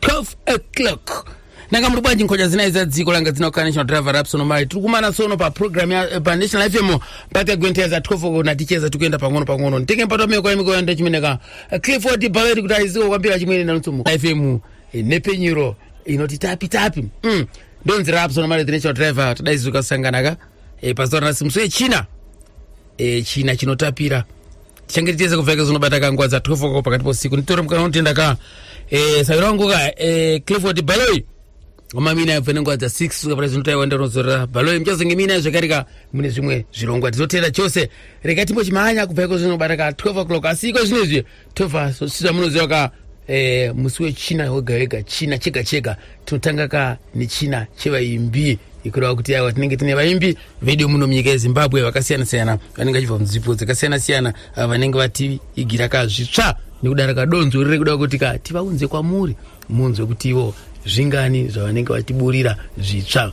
12 o'clock nanga muri bwanji nkocha dzina idza dziko langa dzina kukana national driver rapsono mari tiri kumana sono paprogram eh, panational fm oh, pakagwenteza 12 o'clock naticheza tikuenda pang'ono pang'ono nditenge mpato meko yemikoya ndachimeneka eh, clifford bhaveri kuti aiziko kwambira chimwene nanotsomo fm eh, nepenyuro inoti tapi tapi mm. ndonzi rapsono mari the national driver tadaizizoka sangana ka e, pazuva ranasi musi wechina e, china chinotapira tichange tichese kupfeka zvinobata kanguva dza 12 oko pakati pousiku nditore mukana unotenda ka e, savira wangu ka e, clifford baloi wamamina yabva nenguva dza 6 suka pane zvinotaiwa ndanozorera baloi muchazonge mina zvekare ka mune zvimwe zvirongwa tizotenda chose rega timbo chimhanya kubva iko zvinobata ka 12 o'clock asi iko zvino izvi tova sosisa munoziva ka eh, musi wechina wega wega china chega chega tinotanga ka nechina chevaimbi ikureva kuti aiwa tinenge tine vaimbi vedu muno munyika yezimbabwe vakasiyana siyana vanenge vachibva munzipo dzakasiyana siyana ah, vanenge vatiigira ka zvitsva nekudara kadonzo riri kuda kuti ka tivaunze kwamuri munzwe kuti ivo zvingani zvavanenge vatiburira zvitsva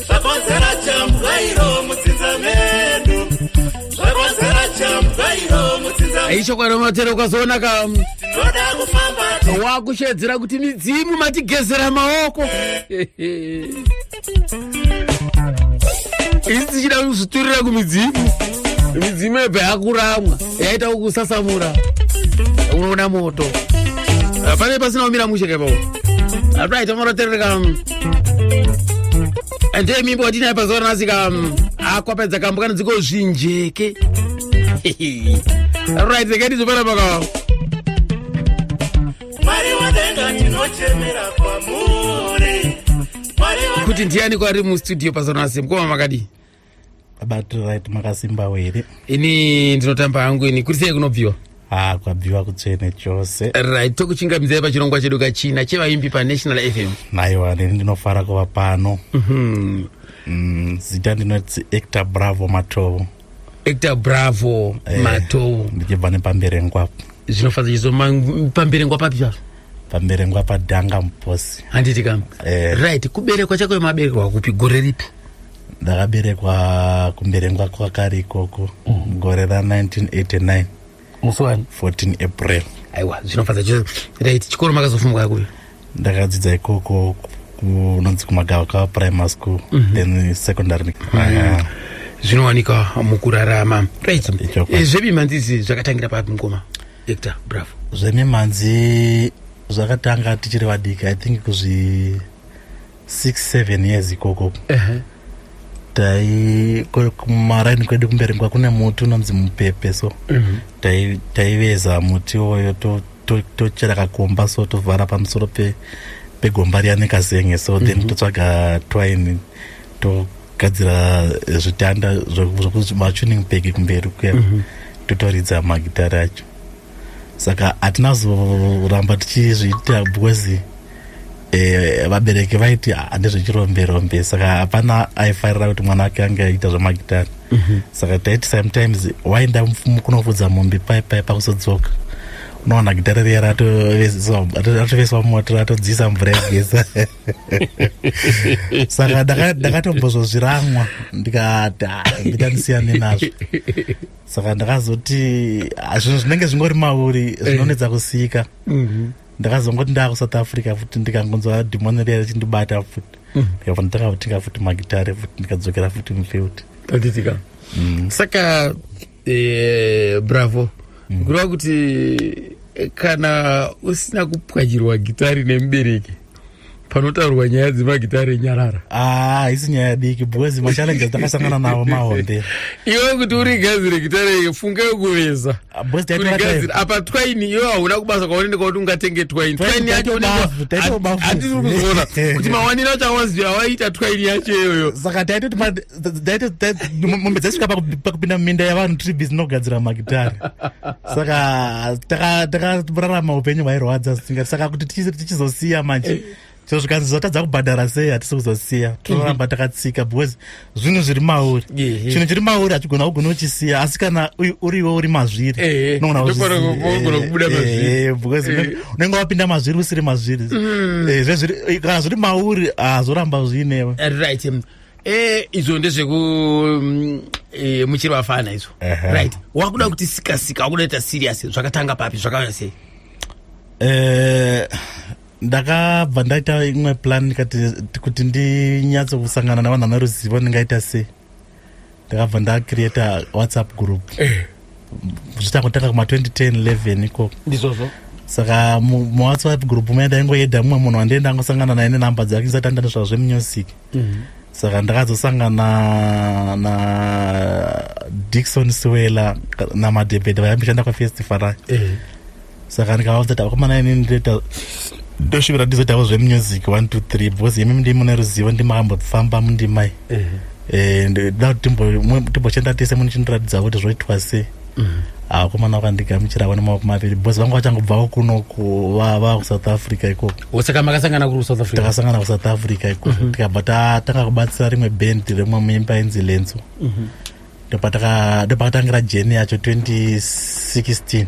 Zvakonzera chambwa iro mudzinza medu. Zvakonzera chambwa iro mudzinza medu. aichokwadi matero ukazoona ka Tinoda kufamba wakushedzera kuti midzimu matigezera maoko isi tichida kuzviturira kumidzimu midzimu yebva yakuramwa yaita kusasamura unoona moto ah, pane pasina kumira mushe kaipapo atu aita moroterereka mm. and hey mimbo watinaye pazuva ranasika mm. akwapedza ah, kambo kana dziko zvinjeke right zekaiti zvopera pakao mwari wadenga tinochemera kwamuri kuti ndiani kwari mustudio pazonasimkoma makadii abatiririt makasimbawo here ini ndinotamba hangu ini kuti sei kunobviwa ha ah, kwabviwa kutsvene chose right tokuchingamidzai pachirongwa chedu kachina chevaimbi panational fm naiwa neni ndinofara kuva pano mhm. mm, zita ndinoti actor bravo matovo actor bravo eh, matovo ndichibva nepamberengwa zvinofadza chizo pamberengwa papi pavo pamberengwa padhanga muposi handiti kam eh. right kuberekwa chako yemaberekwa kupi gore ripi ndakaberekwa kumberengwa kwakari ikoko mm. gore ra 1989 musi wani 14 april aiwa zvinofadza chose rit chikoro makazofumwa yakuyo ndakadzidza ikoko kunonzi kumagavakava primary school mm -hmm. then secondary mm -hmm. zvinowanika mukurarama rit eh, zvemimhanzizi zvakatangira papi mukoma hector bravo zvemimhanzi zvakatanga tichiri vadiki i think kuzvi six seven years ikoko tai ko- kumaraini kwedu kumberi kwa kune muti unonzi mupepe so tai- taiveza muti iwoyo to- to- tochera kakomba so tovhara pamusoro pe- pegomba riya nekazenge so then totsvaga twine togadzira zvitanda zvokuti machuning pegi kumberi kuya totoridza magitari acho saka hatina zoramba tichizviita because eh, vabereki vaiti handizvechirombirombe saka hapana aifarira kuti mwana wake ange aita zvamagitari mhm. saka taiti sometimes waenda kunofudza mombe pai pai pakusodzoka unoona gitare riya ratoveswa moto ratodziisa mvura yegesa saka ndakatombozozviramwa ndikati ndita ndisiyane nazvo saka ndakazoti ah, zvinhu zvinenge zvingori mauri eh. zvinonetsa kusika mhm. ndakazongoti ndava kusouth africa futi ndikangonzwa dhimoni riya richindibata futi mhm. ndikabva ndakakutenga futi magitare futi ndikadzokera futi mufield tatitika mhm. saka eh, bravo kureva kuti eh, kana usina kupwanyirwa gitari nemubereki panotaurwa nyaya dzemagitare nyarara ah, haisi nyaya diki because machallenges takasangana nawo mahombe iwe kuti urigadzire gitare funga yokuveza ah, urigadzire apa twaini iwe hauna kubasa kwaonende kwakuti ungatenge twaini twaini yacho hatiri kuzoona kuti mawaniro acho awaziva awaita twaini yacho iyoyo saka taitoti mombe dzaisvika pakupinda muminda yavanhu tiri busy nokugadzira magitare saka takararama upenyu hwairwadza zvisingati saka kuti tichizosiya manje eh. so zvikanzi zvatadza kubhadhara sei hatisi kuzosiya mhm. tinoramba takatsika because zvinhu zviri mauri chinhu chiri mauri hachigona kugona uchisiya asi kana uriwo uri mazviri unenge wapinda mazviri usiri mazviri mhm. eh, kana zviri mauri hazvoramba zviinewe Eh, izvo ndezveku mm, eh, muchiri vafana izvo Ehe. right wakuda kuti sika sika wakuda kuita serious zvakatanga papi zvakauya sei Eh, ndakabva ndaita imwe plan ndikati kuti ndinyatso kusangana navanhu vane ruzivo ndingaita sei ndakabva ndacreata whatsapp group zvichakutanga kuma 2010 11 ikoko ndizvozvo saka muwhatsapp group muya ndaingoyedha mumwe munhu wandee ndangosangana naye nenumber dzake ndisati andane zvavo zvemunyosiki mhm. saka ndakazosangana na dikson siwela namadebhedha vayambishanda kwafestifal ayo saka ndikavaudza kuti vakomana inini ndoita ndosvivira ndizoitawo zvemusic one two three because imi ndii mune ruzivo ndimambofamba mundimai eh, ndoda kuti timbochenda tese munichindiratidza kuti zvoitwa sei mhm. akomana ah, vakandigamuchira vane maoko maviri because vanga vachangobvawo kuno kuvava kusouth africa ikoko osaka makasangana kuri kusouth africa takasangana kusouth africa ikoko mhm. tikabva tatanga kubatsira rimwe band remwe muimba inzi lenzo mhm. ndopakatangira jeni yacho 2016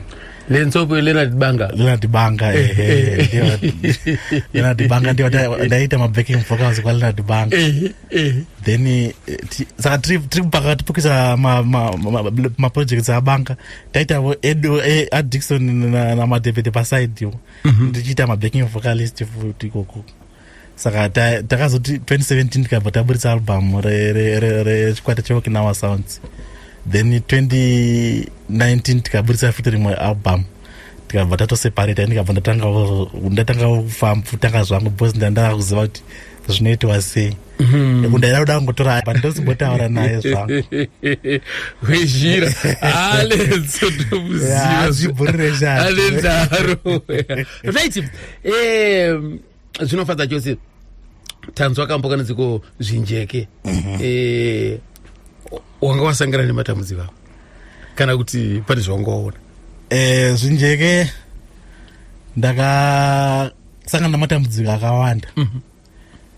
lentsoko leonard banga leonard banga eh, eh, eh, leonard banga ndio ndaita mabacking vocals kwa leonard banga then saka tiri mpaka tipukisa maprojects abanga taitavo adixon namadevede paside iwo mhm. ndichiita mabacking vocalist futi ikoko saka takazoti 2017 tikabva taburitsa album rechikwata cheokinawa sounds then 2019 tikaburitsa futi rimwe album tikabva tatoseparate ndikabva ndatanga kutanga zvangu bcause ndandava kuziva kuti zvinoitiwa sei mhm. ndaida kuda kungotora pa ndozimbotaura naye zvangu wezhira alenso ndomuziva zvibhurire zvaanedaro right um, zvinofadza chose tanzwa kambo kana dziko zvinjeke mhm. eh, wanga wasangana nematambudziko avo kana kuti pane zvawanga waona eh, zvinjeke ndakasangana nematambudziko akawanda mhm.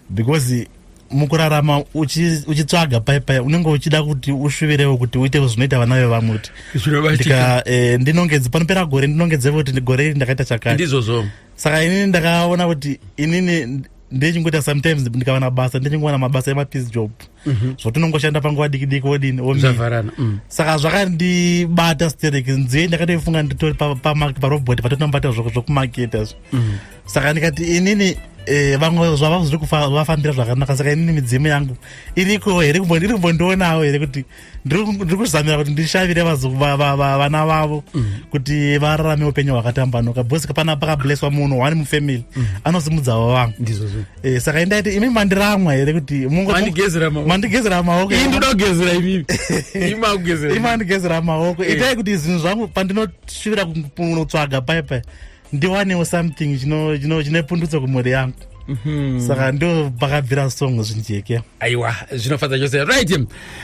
because mukurarama uchitsvaga uchi pai pai unenge uchida kuti usvivirewo kuti uite zvinoita vana vevamwe kuti zvinobatika e, ndinongedze panopera gore ndinongedze kuti gore iri ndakaita chakati ndizvozvo saka inini ndakaona kuti inini ndechingoita sometimes ndikawana basa ndechingowana mabasa emapeace job mm -hmm. zvotinongoshanda panguva diki diki wodini omivharana mm. saka zvakandibata sterek nziye ndakatoifunga nditori pamark pa parobot patotinobata zvokumaketa zvo mm. saka ndikati inini eh, vamwe zvava zviri kuvafambira zvakanaka saka inini midzimu yangu iriko here iri kumbondionawo here kuti ndiri kuzamira kuti ndishavire vana vavo mm. kuti vararame upenyu hwakatambanuka bcause pana pakableswa munhu one mufamily mm. anosimudzavo vangu eh, saka indaiti imi mandiramwa here kuti mandigezera maoko imandigezera maoko itai kuti zvinhu zvangu pandinoshuvira kunotsvaga paipai ndiwanewo something chine pundutso kumhuri yangu mhm. saka ndo pakabvira song zvinjeke aiwa zvinofadza chose right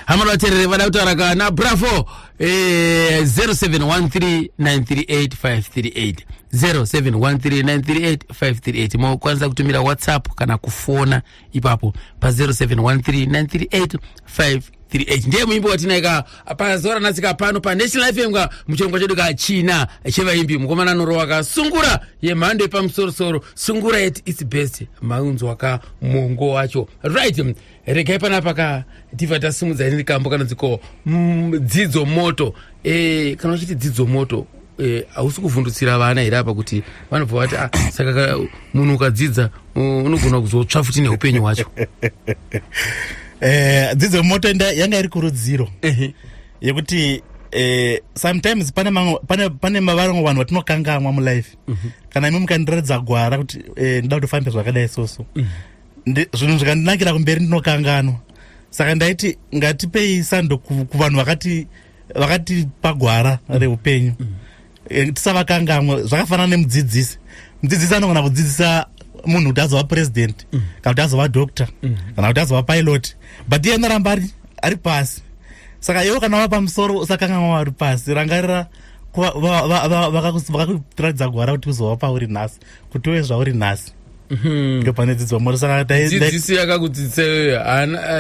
hama vaterere vada kutaura kana bravo 0713938538 0713938538 mokwanisa kutumira whatsapp kana kufona ipapo pa07139385 38 ndiye muimbi watinai ka pazuva ranasika pano panational fm ka muchirongwa chedu ka china chevaimbi mukomana anorowa ka sungura yemhando yepamusorosoro sungura yet its best maunzwa ka mongo wacho right regai panapa ka tiva tasimudza ini rikambo kana dziko mm, dzidzo moto e, kana uchiti dzidzo moto eh, hausi e, kuvhundutsira vana here apa kuti vanobva vati ah, saka munhu ukadzidza unogona kuzotsva futi neupenyu hwacho eh, dzidzo moto yanga iri kurudziro yekuti eh, sometimes pane mamwe pane pane mavaramwe vanhu vatinokangamwa mulife mm -hmm. kana imi mukandiratidza gwara kuti eh, ndoda kuti fambe zvakadai soso mm -hmm. zvinhu zvikandinakira kumberi ndinokanganwa saka ndaiti ngatipei sando kuvanhu vakati vakatipa gwara mm. reupenyu mm. Eh, tisavakangamwe zvakafanana nemudzidzisi mudzidzisi anogona kudzidzisa munhu kuti azova purezidendi mm. kana kuti azova doctor kana kuti azova pilot but iye anoramba ari ari pasi saka iwo kana vava pamusoro usakangamwa vari pasi rangarira vakakuratidza gwara kuti uzova pauri nhasi kutove zvauri nhasi mhm. ndopane dzidzo morisadzidziso yakakudzidzisa iyoyo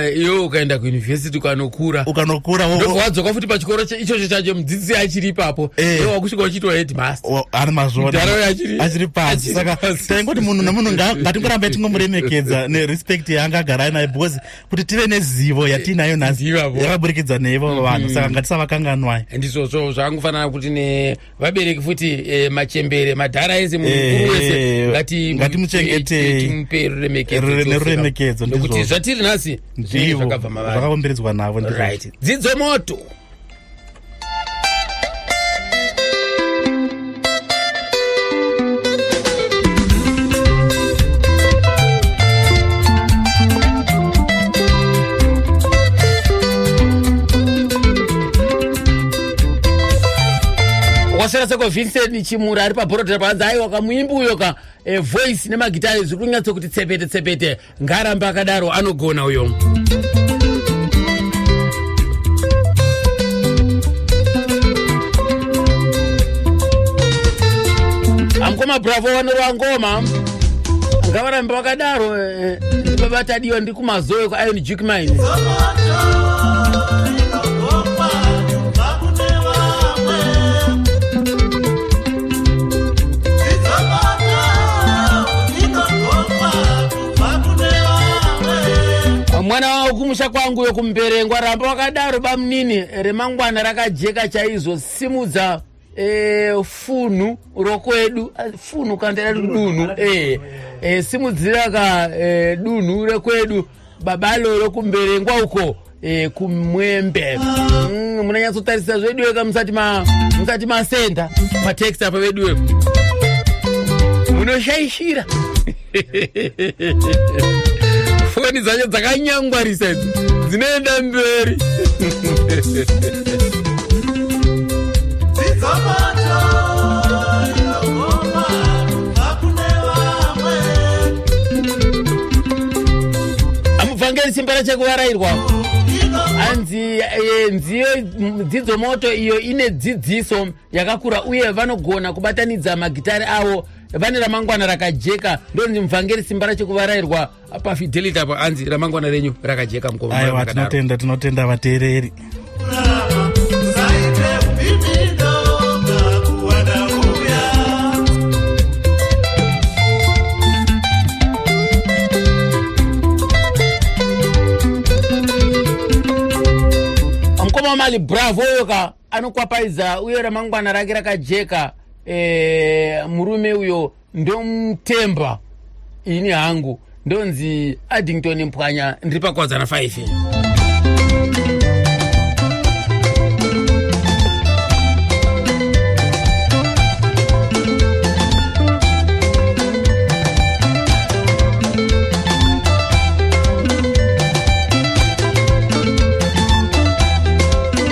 eh, iwe ukaenda kuuniversity ukanokura ukanokura wadzoka futi pachikoro ichocho chacho mudzidzisi achiri ipapo eh. iwe wakusvika uchitwa headmaster ari mazvoachiri pasi saka taingoti munhu nemunhu ngatingorambai tingomuremekedza nerespect yaanga agara ainayo because kuti tive nezivo yatiinayo nhasi yakaburikidza neivo vanhu mhm. saka ngatisavakanganwai ndizvozvo zvakangofanana kuti ne vabereki futi eh, machembere madhara ese munhu Eh, mukuru wese eh, ngati- ngatimuchengetei. eh, timupe ruremekedzo Rure- tiofira. neruremekedzo, nokuti ndizvozvo. zvatiri nhasi zvinenge ndivo zvakabva mavari zvakakomberedzwa navo ndizvo. right dzidzo moto kwasara seko vincent chimura ari pabhorodhi rapanzi aiwa kamuimbi uyo ka e, voice nemagitare zviri kunyatso kuti tsepete tsepete ngarambe akadaro anogona uyo amkoma bravo vanorowa ngoma ngavarambe vakadaro eh, eh, ndibabatadiwa kumazowe kuiron juke mine mwana wavo kumusha kwangu yokumberengwa ramba wakadaro bamunini remangwana rakajeka chaizo simudza Eh, funhu rokwedu ah, funhu kandira dunhu eh, eh, simudzira ka dunhu rekwedu baba lolo kumberengwa uko kumwembe mm, munanyatsotarisa zveduwe ka musati musati masenda matext apa veduwe munoshaishira foni dzacho dzakanyangwarisa idzi dzinoenda mberi amubvangeri simba rachekuvarairwa anzi eh, nziyo dzidzo moto iyo ine dzidziso yakakura uye vanogona kubatanidza magitare avo vane ramangwana rakajeka ndonzi muvhangeri simba racho kuvarairwa pafidelity apo anzi ramangwana renyu rakajeka mukomaaiwa tinotenda tinotenda vateereri mukoma wamali bravo yoka anokwapaidza uye ramangwana rake rakajeka e, murume uyo ndomutemba ini hangu ndonzi addington mpwanya ndiri pakwadzana 5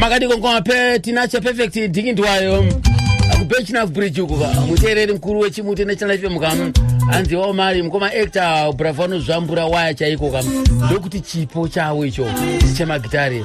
makadiko ngoma pe tinacha perfect dhikindwayo kubechina bridge uku muteereri mukuru wechimuti nechana fm kam hanzi wao mari mukoma actor bravo anozvambura waya chaiko kam ndokuti chipo chavo icho chemagitari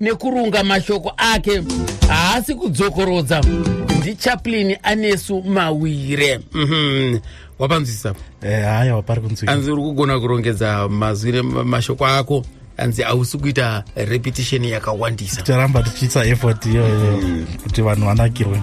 nekurunga mashoko ake haasi kudzokorodza ndichaplin anesu mawire mhm. wapanzwisisa eh, haya wapari kunzwisa anzi uri kugona kurongedza mazwi nemashoko ako anzi hausi kuita repetition yakawandisa ticharamba tichiisa effort iyoyo mm. kuti vanhu vanakirwe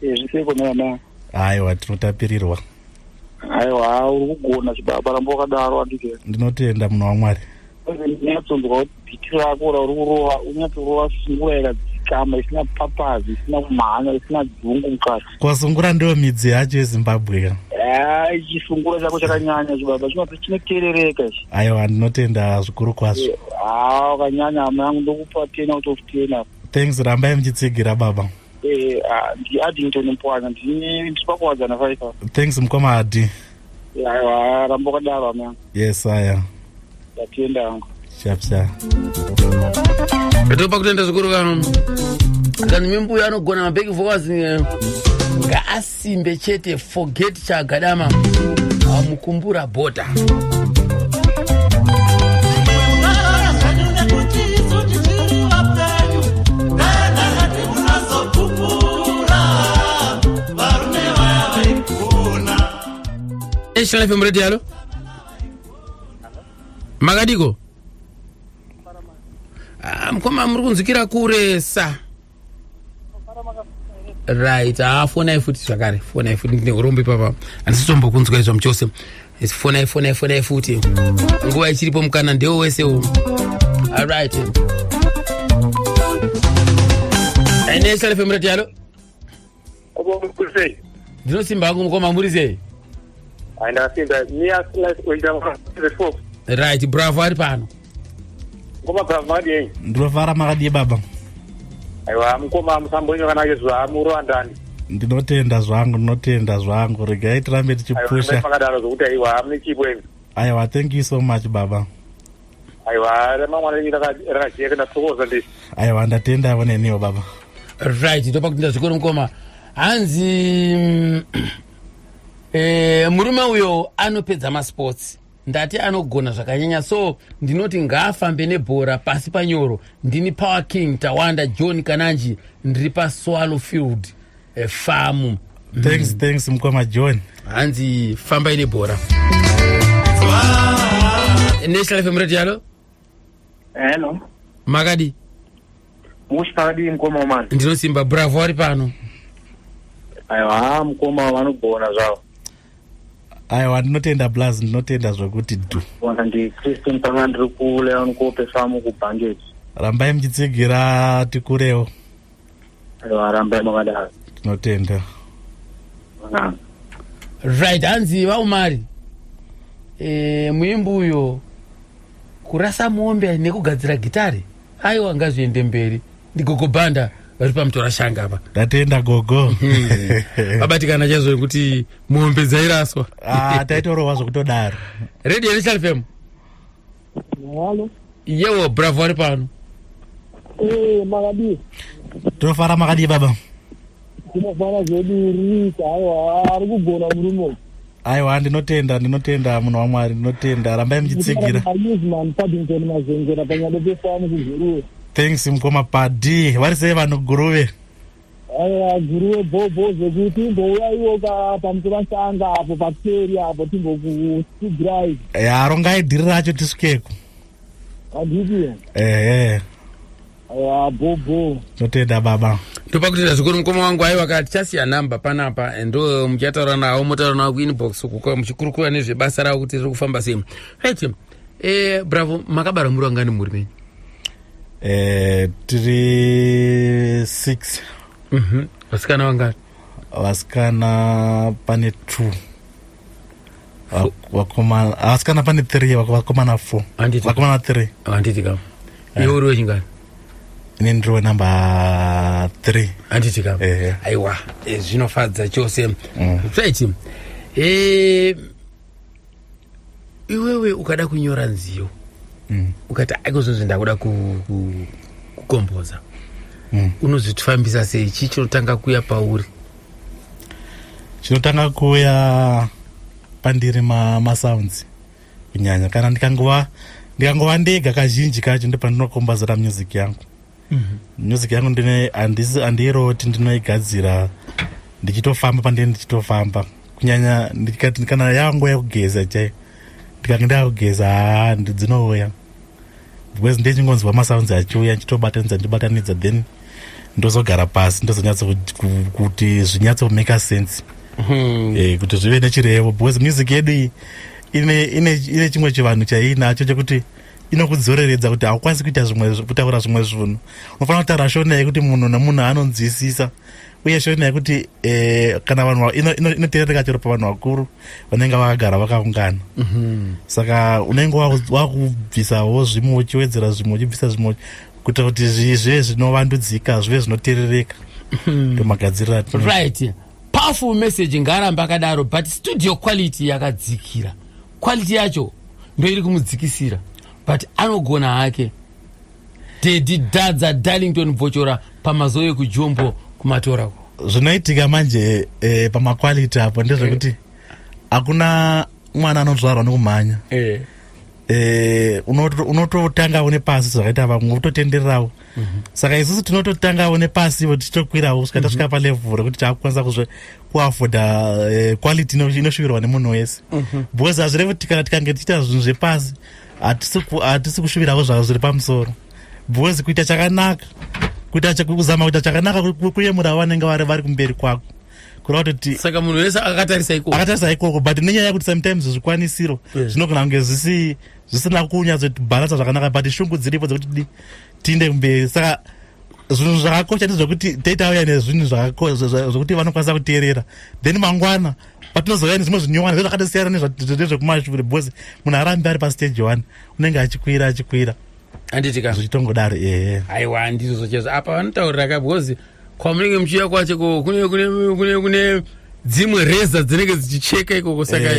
zviseko nana aiwa tinotapirirwa aiwa uri kugona chibaba ramba wakadaro andike ndinotenda munhu wamwari unyatsonzwa kuti bhiti rako rauri kurova unyatsorova sungura yakadzikama isina papazi isina kumhanya isina dzungu mukati kwasungura ndiyo midzi yacho yezimbabwe ka ai chisungura chako chakanyanya chibaba chinoti chinoterereka ichi aiwa ndinotenda zvikuru kwazvo haa wakanyanya hama yangu ndokupa ten out of ten apa thanks rambai muchitsigira baba Eh, ah, ndi Addington Mpwana ndini ndipakuwadzana faifa. Thanks mkoma Adi. Ya, ya, rambo kadaro amana. Yes, haya. Yatienda yangu. Sharp sharp. Topa kutenda zvikuru kano. Kana mimbuya anogona mabeki vokazi ngaasi simbe chete forget chagadama amukumbura bota National FM Radio alo makadiko ah, mkoma muri kunzwikira kuresa right haa ah, fonai futi zvakare fonai futi ndine urombe papa handisitombokunzwa izvo muchose fonai fonai fonai futi nguva ichiripo mukana ndewo wese u alright aine salefemurati yalo ndinosimba hangu mukoma muri sei right bravo ari pano ndinofara makadii baba aiwa mukoma musambonyo kana yezva murowandani ndinotenda zvangu ndinotenda zvangu regai tirambe tichipusha aiwa thank you so much baba aiwa remangwana renyu rakajeka ndathokoza ndi aiwa ndatenda yavo neniwo baba right ndopa kuti ndazvikoro mukoma hanzi mm, eh, murume uyo anopedza masports ndati anogona zvakanyanya so ndinoti ngaafambe nebhora pasi panyoro ndini power king tawanda john kananji ndiri paswallow field eh, famu thanks mm. thanks mukoma john hanzi fambai nebhora national fm radio yalo hello makadi mushi pakadii mukoma mani ndinosimba bravo ari pano aiwa mukoma vanogona zvavo aiwa ndinotenda blas ndinotenda zvekuti du ona ndicristin panga ndiri kuleon kope famu kubhangeji rambai muchitsigira tikurewo varamba makadaro tinotenda right hanzi vaumari e, muimbi uyo kurasa mombe nekugadzira gitari aiwa ngazviende mberi ndigogo banda vari pamutora shanga apa ndatenda gogo vabatikana chaizvo nekuti mombe dzairaswa ah, taitorohwa zvokutodaro radio national fm Halo. Yewo bravo ari pano. Eh makadii? Tofara makadii baba? Tinofara zvedu rika aiwa ari kugona murume uyu. Aiwa ndinotenda ndinotenda munhu waMwari ndinotenda rambai muchitsigira. Newsman Paddington Mazengera panyado pefamu kuGuruve. Thanks mkoma Paddy. Vari sei vanhu Guruve? Aya guru webhobho zvekuti imbouyaiwo pamusevasanga apo pakeri apo timbokusigirai. Ya rongai dhiri racho tisukeko. Anditi. Ehe. Aya bhobho. Totenda baba. Ndopa kutenda zvikuru mukoma wangu aiwa ka tichasiya number panapa and uh, muchataura nawo motaura nawo kuinbox uko muchikurukura nezvebasa ravo kuti riri kufamba sei. Right. Eh bravo makabarwa muri wangani muri menyu? eh, tiri six mhm. vasikana vangati vasikana pane two vakomana vasikana pane three vakomana four vakomana three handiti kam eh. iwe uri wechingani ini ndiri wenumber three handiti kam eh. aiwa eh, zvinofadza chose mm. right iwewe ukada kunyora nziyo mm. ukati akozozvi ndakuda kukomboza ku, ku mm. unozvitifambisa sei chii chinotanga kuya pauri chinotanga kuya pandiri masounds ma kunyanya kana ndikangova ndikangova ndega kazhinji kacho ndopandinokombazira music yangu mhm. music yangu ndine handiiroti ndinoigadzira ndichitofamba pandine ndichitofamba kunyanya kana yangu yakugeza chai ndikange ndakugeza haa ndidzinouya because ndechingonzwa masounds achiuya ndichitobatanidza ndibatanidza then ndozogara pasi ndozonyatsa kuti zvinyatsa kumeka sense hmm. eh, kuti zvive nechirevo because music yedu iyi ine chimwe chivanhu chaiinacho chekuti inokudzoreredza kuti haukwanisi kuita zvimwe kutaura zvimwe zvinhu unofanira kutaura shona yekuti munhu nemunhu anonzwisisa uye shona yekuti eh, kana vanhu inoteereka chero pavanhu vakuru vanenge vakagara vakaungana mhm. saka unenge wakubvisawo zvimwe uchiwedzera zvimwe uchibvisa zvimwe kuita kuti zvive zvinovandudzika zvive zvinoteerereka mhm. ndomagadzirira right powerful message ngarambe akadaro but studio quality yakadzikira quality yacho ndoiri kumudzikisira but anogona hake dedi dadza darlington bvochora pamazuva ekujombo kumatora ko zvinoitika manje eh, pamaquality apo ndezvekuti eh. hakuna mwana anozvarwa nekumhanya eh. Eh, unototanga une pasi zvakaita vamwe utotendererawo mhm. saka isusu tinototangawo nepasi ivo tichitokwirawo kusvika mhm. tasvika palevel rekuti takukwanisa kuafoda uh, eh, quality inosvikirwa nemunhu wese mhm. because hazvirevi kuti kana tikange tichiita zvinhu zvepasi hatisi kushuviravo zvavo zviri pamusoro because kuita chakanaka kuita kuzama kuita chakanaka kuyemura vanenge vari vari kumberi kwako kureva kuti saka munhu wese akatarisa ikoko akatarisa ikoko but nenyaya yekuti sometimes zvikwanisiro zvinogona kunge zvisina kunyatso bhalansa zvakanaka but shungu dziripo dzekuti tiinde kumberi saka zvinhu zvako chati zvekuti data auya nezvinhu zvako zvekuti vanokwanisa kuteerera then mangwana patinozouya nezvimwe zvinyowani zvezvakatosiyana nezvekumashure because munhu arambi ari pastage one unenge achikwira achikwira anditika zvichitongodaro ehe aiwa andizvozvo chezvo apa vanotaurira ka because kwamunenge muchiuya kwacho ko kune kune kune kune dzimwe reza dzinenge dzichicheka ikoko saka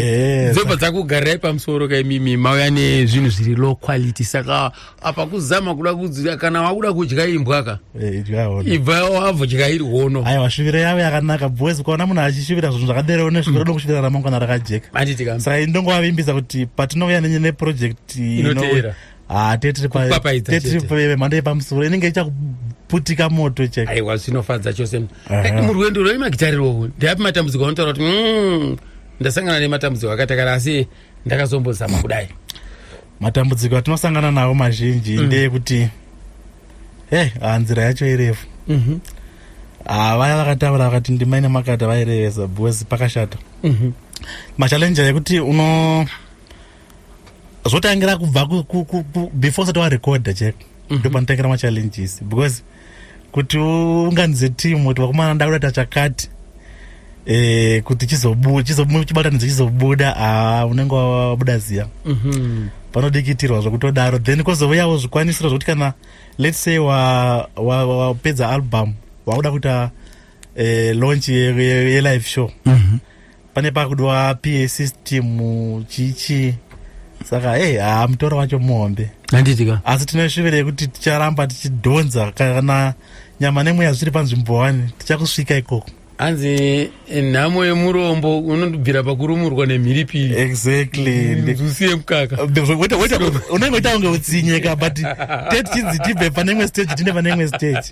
dzopa dzakugarai pamusoro kaimimi mauya nezvinhu zviri low quality saka apa kuzama kuda kudzira kana wakuda kudya imbwa ka eh, ibva wavodya iri hono aiwa shuviro yavo yakanaka boys ukaona munhu achishuvira zvinhu zvakadero ne shuviro dokushuvira mm. ramangwana rakajeka saka ini ndongovavimbisa kuti patinouya nenye neproject inoteera ah, tetiripamhando yepamusoro inenge ichakuputika moto chek aiwa zvinofadza chose eh, murwendo rwei magitarirwo ndeapi matambudziko anotaura kuti mm, ndasangana nematambudziko akatakara asi ndakazombozama kudai matambudziko atinosangana nawo mazhinji mm. ndeyekuti hey, ah, nzira yacho irefu mm -hmm. ah, vaya vakataura vakati ndima ine makata vairevesa because pakashata mm -hmm. machallenje yekuti uno zvotangira kubva before usati warecorda chek mm -hmm. ndopanotangira machallenges because kuti unganidze team kuti vakomana nda kuda tachakati eh kuti chizobuda chizobuda chibatanidze chizobuda ah unenge wabuda ziya mhm panodikitirwa zvokutodaro then kozouyawo zvikwanisiro zvokuti kana let's say wapedza wa, wa album wakuda kuita eh, launch yelive ye, ye show mm -hmm. pane pakudiwa pa system chichi saka hey, eh, haa mutoro wacho muhombe handitika asi tine shuviro yekuti ticharamba tichidhonza kana nyama nemweya zviri panzvimbo wani tichakusvika ikoko hanzi eh, nhamo yemurombo unondibvira pakurumurwa nemhiripiri exactly mm, usiye mukaka unenge uita kunge utsinyeka but tetichidzi tibve pane imwe stage tine pane imwe stage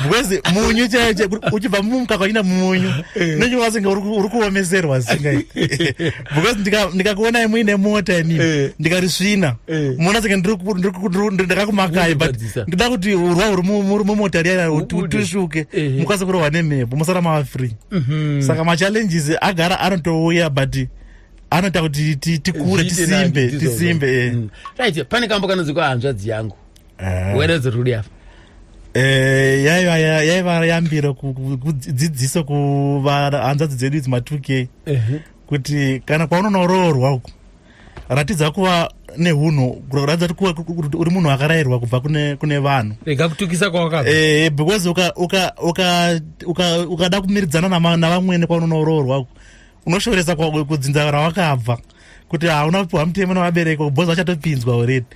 because munyu chaiyo chaiyo uchibva mumukaka uchinda munyu eh. nonge wasinga uri kuomeserwa zingai because ndikakuonai muine mota ini eh. ndikarisvina eh. muona senge ndakakumakai but ndida kuti urwa uri mumota riya tisvuke mukwanise kurohwa nemhepo musara mava free mhm. saka machallenges agara anotouya but anoita kuti tikure tisimbe tisimbe mm. right pane kambo kanonzi kwahanzvadzi yangu eh. wena dzirudi apa eh, yaiva yaiva yambiro kudzidziso kuvahanzvadzi dzedu idzi ma 2 k kuti kana kwaunonoroorwa uku ratidza kuva nehunhu ratidza kuti uri munhu akarayirwa kubva kune vanhu rega kutukisa kwawakabva eh, eh, because ukada kumiridzana navamwene kwaunonoroorwa uku unoshooresa kudzinza rawakabva kuti hauna kupiwa mutemo nevabereki bhozi vachatopinzwa already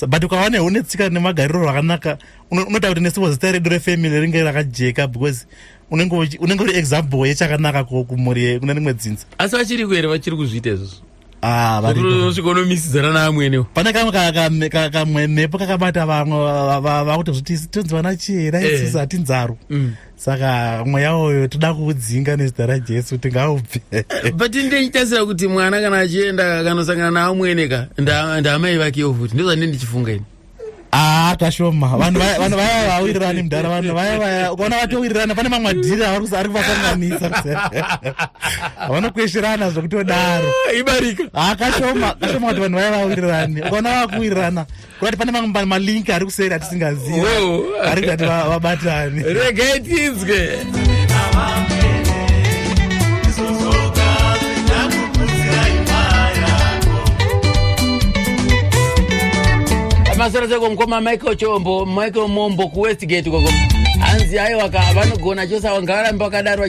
but ukava nehu netsika nemagariro rwakanaka unotaura kuti nesipo zita redu refamily ringe rakajeka because unenge uri example yechakanaka kumhuri kune rimwe dzinza asi vachiriko here vachiri kuzviita izvozvo ah, vanosvika unomisidzana naamwenewo pane kamwe kamwe mhepo kakabata vamwe vakuti zviti tonzi vana chii raisisa eh. hatinzaro mm. saka mweya uyo toda kuudzinga nezita rajesu tingaubve but ndinditasira kuti mwana kana achienda akanosangana naamwene ka ndaamai vakewo futi ndozvandine ndichifunga ini aa kashoma vanhu vaya vawirirani mudhara vanhu vaya vaya ukaona vatowirirana pane mamwe adhiri ari kuvasanganisa vanokwesherana zvekutodaro ah, ibarika aa ah, kashoma kashoma kuti vanhu vaya vawirirani ukaona vakuwirirana kurati pane mamwe malinki ari kuseri atisingazivi ari kutati vabatani regai tinzwe masana seko mkoma michael chombo michael mombo kuwestgate koko hanzi aiwaka vanogona chose awa ngavarambe vakadaro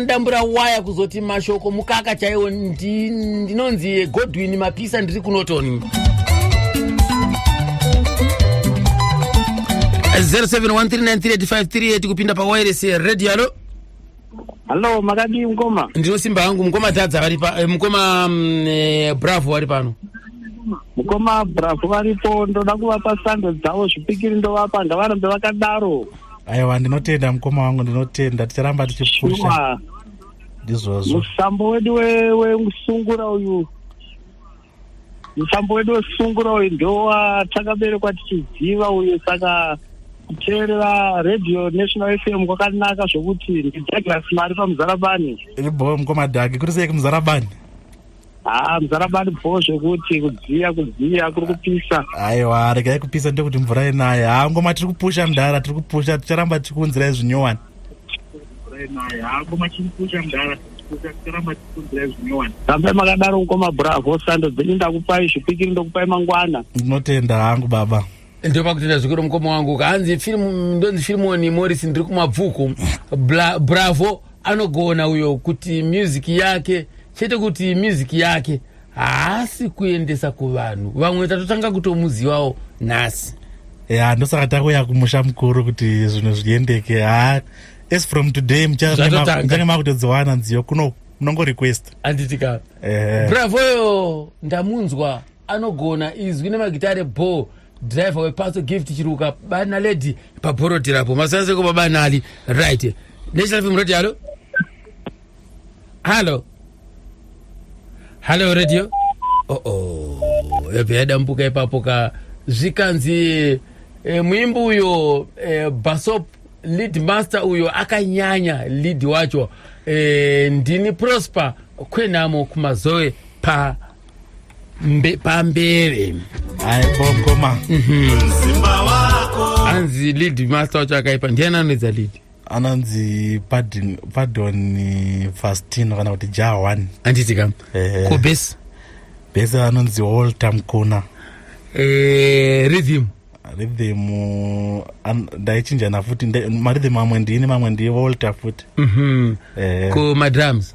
ndambura waya kuzoti mashoko mukaka chaiwo ndinonzi godwin mapisa ndiri kunotoni 0713938538 kupinda pawairesi radio alo Hello, makadii mkoma? Ndino simba hangu mkoma Dhadza vari pa eh, mkoma mm, eh, Bravo vari pano. Mkoma Bravo varipo ndoda kuvapa sando dzavo zvipikiri ndovapa ngavarambe vakadaro. Aiwa ndinotenda mkoma wangu ndinotenda ticharamba tichipusha. Sure. Ndizvozvo. Musambo wedu we, we musungura uyu mutambo wedu wesungura uyu ndowa takaberekwa tichiziva uyu saka kuteerera radio national fm kwakanaka zvokuti ndidouglas mari pamuzarabani bo mkomadhagi kuri sei kumuzarabani haa ah, muzarabani bo zvekuti kudziya kudziya kuri kupisa aiwa regai kupisa ndokuti mvura yenaye haa ah, ngoma tiri kupusha mdhara tiri kupusha ticharamba tichikunzirai zvinyowani rambai makadaro mukoma bravo sando dzenyu ndakupai zvipikiri ndokupai mangwana ndinotenda hangu baba ndopa kutenda zvikuru mukoma wangu kaanzi filimu ndonzi filimoni morris ndiri kumabvuku Bla- bravo anogona uyo kuti music yake chete kuti music yake haasi kuendesa kuvanhu vamwe tatotanga kutomuzivawo nhasi ya ndosaka takuya kumusha mukuru kuti zvinhu zviendeke ha as from today muchange makutodziwana nziyo kuno munongorequesta anditika eh. bravo yo ndamunzwa anogona izwi nemagitare bho driver wepatso gift chiruka bana lady pabhorodhirapo masanzeko babanali right national film radio alo hallo hallo radio oo oh, oh. yabva yadambuka ipapo ka zvikanzi e, muimbi uyo e, basop lead master uyo akanyanya lead wacho e, ndini prosper kwenhamo kumazoe pa mbe, pambere aibokoma mm -hmm. anzi lead master wacho akaipa ndiani anoedza lead anonzi pardon, pardon eh, fastino kana kuti jah one handiti kam Ehe. ko bes bese anonzi walter mkuna eh, rhythm rhythm uh, an- ndaichinjana futi nda- marhythm amwe ndini mamwe ndiye walter futi Mhm. Eh, ko madrums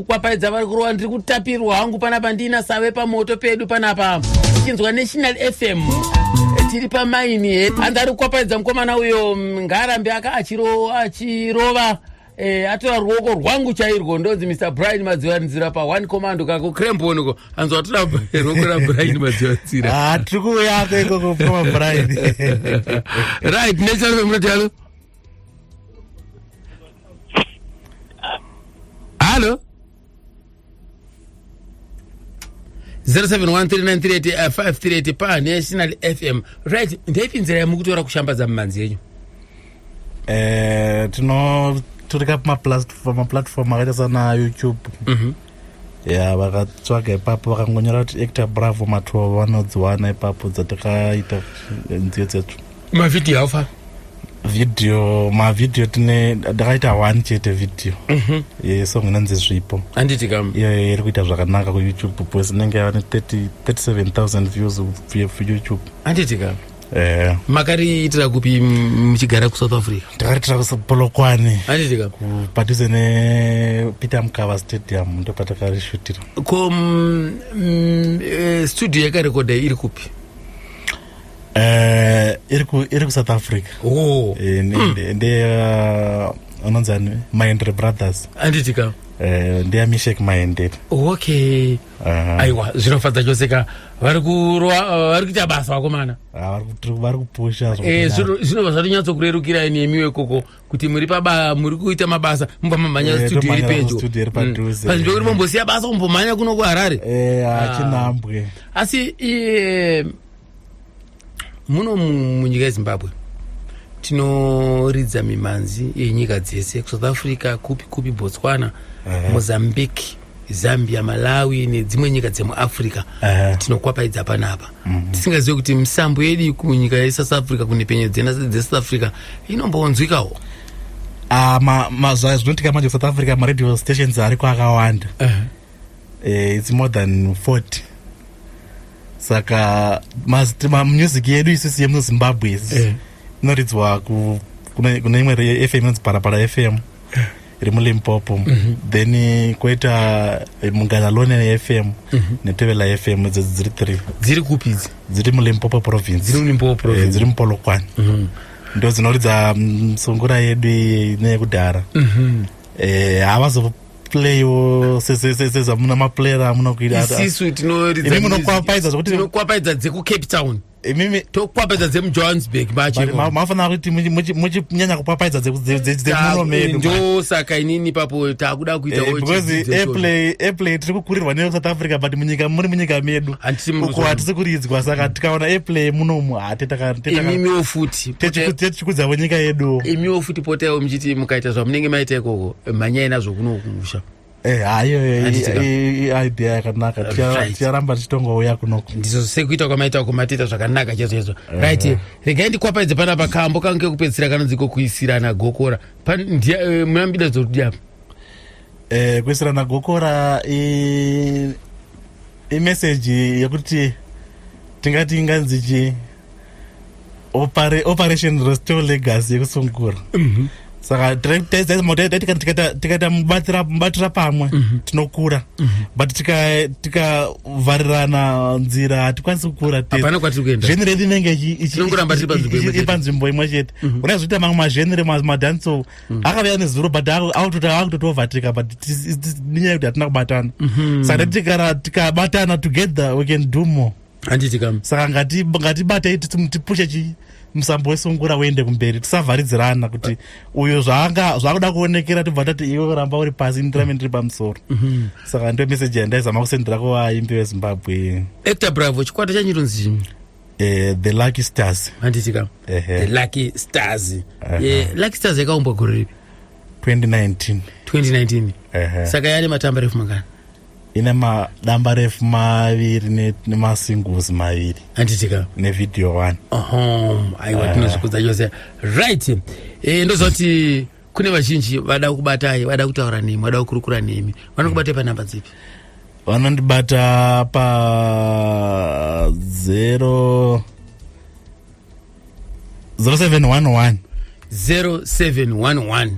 kwapaidza vari kurova ndiri kutapirwa hangu panapa ndiina save pamoto pedu panapa tichinzwa national fm tiri pamaini he hanzi ari kwapaidza mukomana uyo mm, ngaarambe aka achiro achirova eh, atora ruoko rwangu chairwo ndonzi mr brian madzivanzira pa one commando kako crembon uko hanzi watora ruoko rabrian madzivanzira Ah, tiri kuuyako ikoko mukoma brian right nechalo mnotalo halo 0713938538 panational fm right ndaipi nzira yamukutora kushambadza mumanzi yenyu eh, tino tiri ka pamaplatform akaita sana youtube mm -hmm. ya vakatsvaga ipapo vakangonyora kuti actor bravo matova vanodziwana ipapo dzatakaita nziyo dzetu mavhidhiyo haufa video mavideo tine ndakaita one chete video mhm. yesong inonzi zvipo anditi kam iyoyo iri kuita zvakanaka kuyoutube bcause inenge yava ne 37000 views kuyoutube anditi kam Eh. makariitira kupi muchigara kusouth africa takariitira kupolokwane anditika padhuze nepeter mukava stadium ndopatakarishutira ko mm, mm, eh, studio yakarekodha iri kupi eh, iri kusouth africa oh. nde anonzi ani mahendere brothers anditika ndeyamishek mahendere okay aiwa zvinofadza chose ka vari eh, kuita basa vakomana ah, vari kupusha eh, zvinobva zvatonyatsokurerukirai nemi wekoko kuti muri paba muri kuita mabasa mubva mamhanya eh, studio iri pedyo panzvimbo mm. kuti mombosiya basa kumbomhanya kuno kuharare ah. achinambwe asi muno munyika yezimbabwe tinoridza mimhanzi yenyika dzese kusouth africa kupi kupi botswana uh -huh. mozambique zambia malawi nedzimwe nyika dzemuafrica uh -huh. tinokwapaidza panapa mm -hmm. tisingazive kuti misambo yedu kunyika yesouth africa kunepenyo dzesouth africa inombonzwikawo uh, ah, mazuva ma, zvinotika manje kusouth africa maradio stations ariko akawanda uh -huh. eh, it's more than 40 saka music yedu isisi yemuzimbabwe eh. inoridzwa kune imwe fm inonzi parapara fm eh. iri mulimpopo mm -hmm. then eh, koita eh, munganalone fm mm -hmm. netevela fm idzo dziri three dziri kupi idzi dziri mulimpopo province dziri mulimpopo province dziri mupolokwani mm -hmm. ndo dzinoridza mm, sungura yedu neyekudhara mm -hmm. eh, havazo playo sezamuna maplayer amuna kuitaisu tinorimunokwapaiza zvokuti tinokwapaidza dzekucape town imimi tokwapaidza dzemujohannesburg mafanira kuti muchinyanya kupapaidza dzemuno medu ndo saka inini papo takuda kuitabeauseairplay eh, tiri kukurirwa neusouth africa but munyika muri munyika medu uko hatisi kuridzwa saka tikaona airplay munomu hateimiwo futi techikudzavo nyika yedu imiwo futi potaiwo muchiti mukaita zvamunenge maita ikoko mhanyai nazvo kuno kumusha Eh, hayo idea yakanaka ticharamba tichitongouya kunoko ndizvo sekuita kwamaita kumatiita zvakanaka chaizvo chaizvo eh. right regai ndikwapaidze pana pakambo kange kekupedzisira kanonziko kuisirana gokora eh, muna mbida dzokudii apa eh, kuisirana gokora imeseji yekuti tingati inganzi chii Opare, operation restore legacy yekusungura mm -hmm. saka tikaita mubatira pamwe mm -hmm. tinokura mm -hmm. but tikavharirana tika nzira hatikwanisi kukura zvenire rinenge ipanzvimbo imwe chete mm -hmm. unazoita mamwe mazvenire madanso mm -hmm. akavea nezuro but akutotovatika but inyaya kuti hatina kubatana mm -hmm. saka tikabatana together we can do more handiti kam saka ngatibatei tipushe chii musambo wesungura uende kumberi tisavharidzirana kuti uyo zvaanga zvakuda kuonekera tibva tati iwe kuramba uri pasi indirame ndiri pamusoro mhm. saka ndo meseji yandaizama kusendera kuvaimbi vezimbabwe ecta bravo chikwata chanyu tonzi eh, the lucky stars handitika the lucky stars eh, lucky stars yakaumbwa gore ripi 2019 2019 saka yane matamba refu mangana ine madamba refu maviri nemasingles maviri anditika nevideo one aiwa eh. tinozvikudza chose right eh, ndozoti kune vazhinji vada kukubatai vada kutaura nemi vada kukurukura nemi vanokubatai panhamba dzipi vanondibata pa zero zero seven one one zero seven one one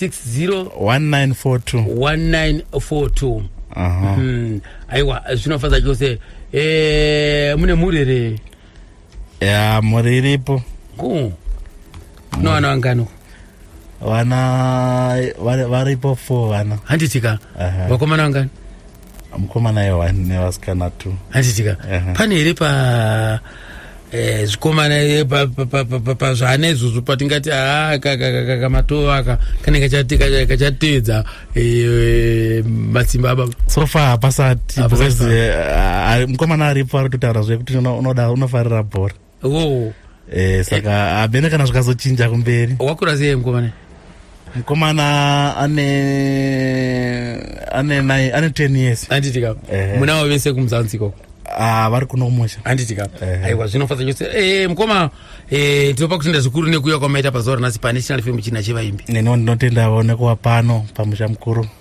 601942 hmm. aiwa zvinofadza chose eh, mune mhuri here ya mhuri iripo ku no vana vangano vana varipo four vana handitika vakomana vangani mukomana yewa nevasikana two handitika pane here pa eh, zvikomana eh, pazvaana izvozvo patingati aa ah, kamatova aka kanenge kachateedza eh, matsimba ababa so far hapasati mukomana aripo ari kutotaura zvekuti unoda unofarira bhora oh. eh, saka eh. hamene eh. kana zvikazochinja kumberi wakura sei mukomana mukomana ane ane nai ane ten years handiti ka eh. muna wavo vese kumuzanzi ikoko ah, vari kuno kumusha handiti ka eh. aiwa zvinofadza chose eh, mukoma eh, tinopa kutenda zvikuru nekuuya kwamaita pazuva ranhasi panational film china chevaimbi neniwo ndinotendavo nekuva pano pamusha mukuru